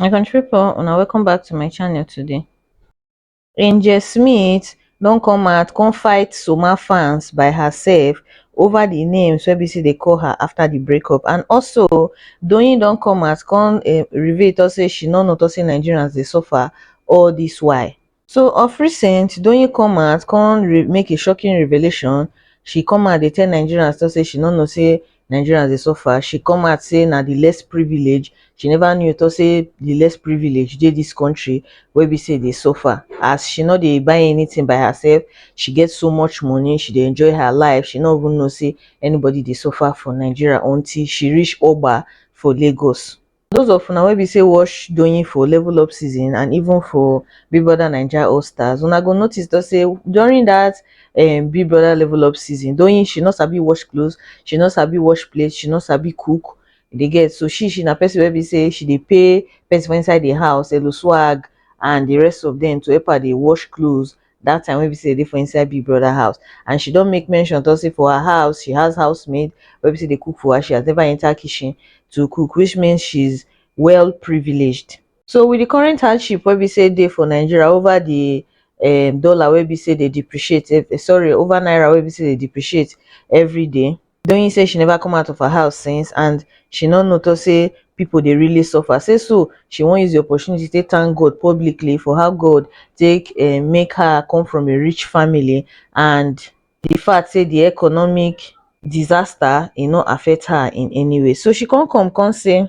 my country people una welcome back to my channel today angel smith don come out come fight soma fans by herself over the names wey be say dey call her after the breakup and also doyin don come out come eh, reveal talk say she no know talk say nigerians dey suffer all this while so of recent doyin come out come make a shocking revelation she come out dey tell nigerians tok say she no know say nigerians dey suffer she come out say na di less privilege she neva know tok say di less privilege dey dis kontri wey be say dey suffer as she no dey buy anytin by herself she get so much money she dey enjoy her life she no even know say anybody dey suffer for nigeria until she reach oba for lagos Those of una wey be say watch Doyin for level up season and even for Big Brother Naija All Stars, una go notice though say during that um, Big Brother level up season, Doyin she no sabi wash clothes, she no sabi wash plates, she no sabi cook. You dey get so she she na person wey be say she dey pay person for inside the house, Elo Swag and the rest of them to help her dey wash clothes that time wey be say e dey for inside big brother house and she don make mention talk say for her house she has housemaid wey be say dey cook for her she has never enter kitchen to cook which means she's well privileged so with the current hardship wey be say dey for Nigeria over the um dollar wey be say dey depreciate sorry over naira wey be say dey depreciate everyday doyin say she neva come out of her house since and she no noto say pipo dey really suffer say so she wan use di opportunity take tank god publicly for how god take um make her come from a rich family and di fact say di economic disaster e no affect her in any way so she con come con say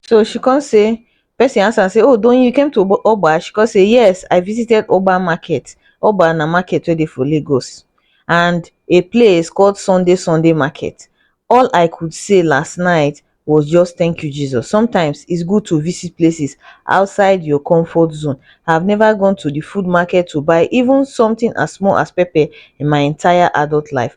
So she come say, person ask am say, oh Doyin, you came to Obo- Oba? She come say, yes, I visited Oba Market. Oba na market wey dey for Lagos and a place called Sunday Sunday Market. All I could say last night was just thank you, Jesus. Sometimes it's good to visit places outside your comfort zone. I've never gone to the food market to buy even something as small as pepper in my entire adult life.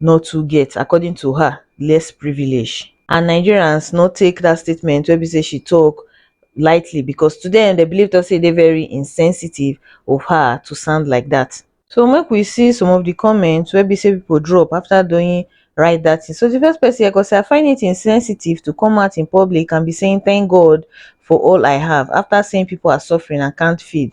no too get according to her less privilege and nigerians no take dat statement wey be say she tok lightly becos to dem dem believe tok say e dey very insensitive of her to sound like dat. So make we see some of di comments wey be say pipo drop afta Doyin write dat tin. So di first pesin here tok say I find it insensitive to come out in public and be saying thank God for all I have afta seeing pipo are suffering and can't feed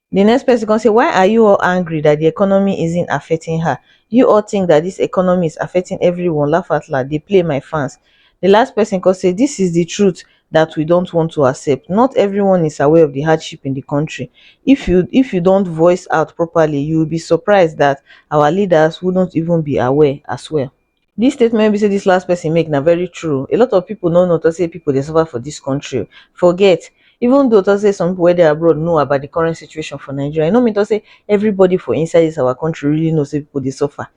Di next pesin kon sey, why are you all angry dat di economy isn't affecting her? You all tink dat dis economy is affecting everyone, laugh out loud, dey play my fans. Di last pesin kon sey, dis is di truth dat we don't want to accept, not everyone is aware of di hardship in di kontri. If you if you don't voice out properly, you will be surprised dat our leaders wouldn't even be aware as well. Dis statement wey be sey dis last person make na very true, a lot of people no know talk sey people dey suffer for dis country, forget even though talk sey some people wey dey abroad know about di current situation for Nigeria, e no mean talk sey everybody for inside dis our country really know sey people dey suffer,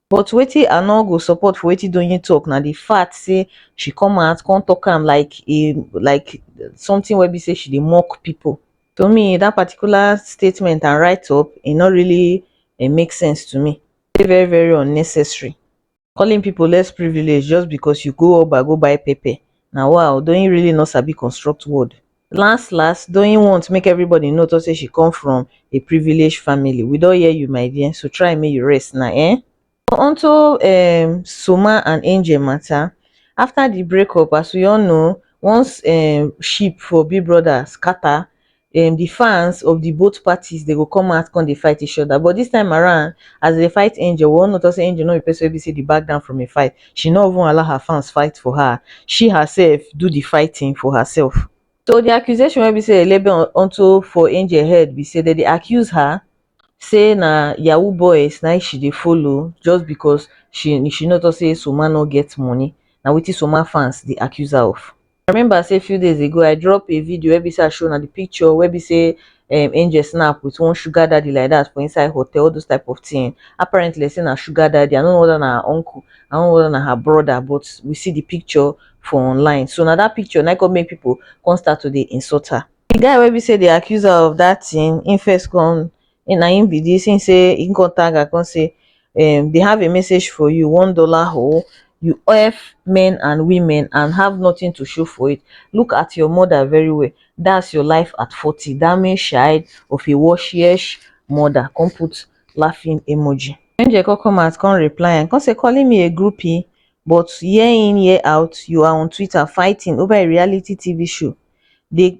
but wetin I no go support for wetin Doyin talk na di fact sey she come out come talk am like a like something wey be sey she dey mock people, to me dat particular statement and write up e no really make sense to me. dey very very unnecessary calling people less privilege just because you go oba go buy pepper na waoo doyin really no sabi construct word las las doyin want make everybody know talk say she come from a privilege family we don hear you my dear so try make you rest na eeh onto um soma and angel matter after the breakup as we all know once um ship for big brother scatter um the fans of the both parties they go come out come dey fight each other but this time around as they fight angel we all know talk say angel no be person wey be say dey back down from a fight she no even allow her fans fight for her she herself do the fighting for herself so the accusation wey be say elebe on onto for angel head be say they dey accuse her say na yahoo boys na im she dey follow just because she she no talk say soma no get money na wetin soma fans dey accuse her of I remember say few days ago I drop a video wey be say I show na the picture wey be say um, Angel snap with one sugar daddy like that for inside hotel, all those type of thing. Apparently, say na sugar daddy. I don't know whether na her uncle, I don't know whether na her brother, but we see the picture for online. So now that picture now come make people come start to dey insult her. The guy wey be say they accuse her of that thing, he first come na im be this him say him come tag her come say um they have a message for you one dollar hole you F men and women and have nothing to show for it look at your mother very well that's your life at 40 damage child of a washish mother come put laughing emoji Angel come come out come reply and come say calling me a groupie but year in year out you are on Twitter fighting over a reality TV show they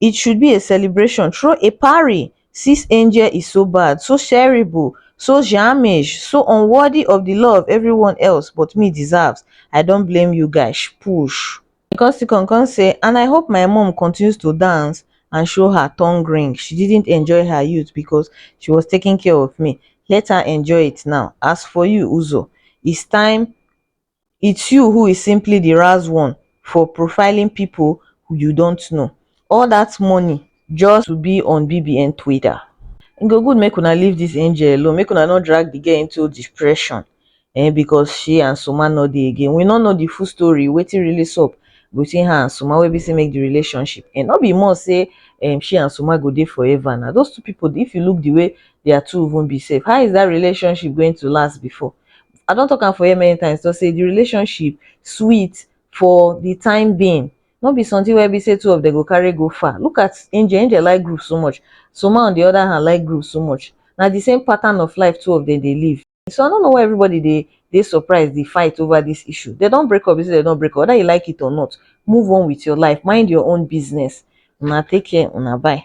it should be a celebration throw a parry sis angel is so bad so shareable so sharmish so unworthy of the love everyone else but me deserves i don't blame you guys push ikotsikong come say and i hope my mum continues to dance and show her tongue ring she didn't enjoy her youth because she was taking care of me let her enjoy it now as for you uzo it's time it's you who is simply the razz one for profiling people you don't know all that money just to be on bbn twitter e go good make una leave this angel alone make una no drag the girl into depression eh because she and soma no dey again we no know the full story wetin really sup between her and soma wey be say make the relationship and no be more say um, she and soma go dey forever now those two people if you look the way they are two even be safe how is that relationship going to last before I don talk am for here many times before sey de relationship sweet for de time being no be something wey be sey two of dem go carry go far. Look at Angel, Angel like groove so much, Soma on de other hand like groove so much. Na de same pattern of life two of dem dey live. So I no know why everybody dey dey surprise dey fight over this issue. Dem don break up be sey dem don break up whether you like it or not move on with your life, mind your own business. Una take care, una bye.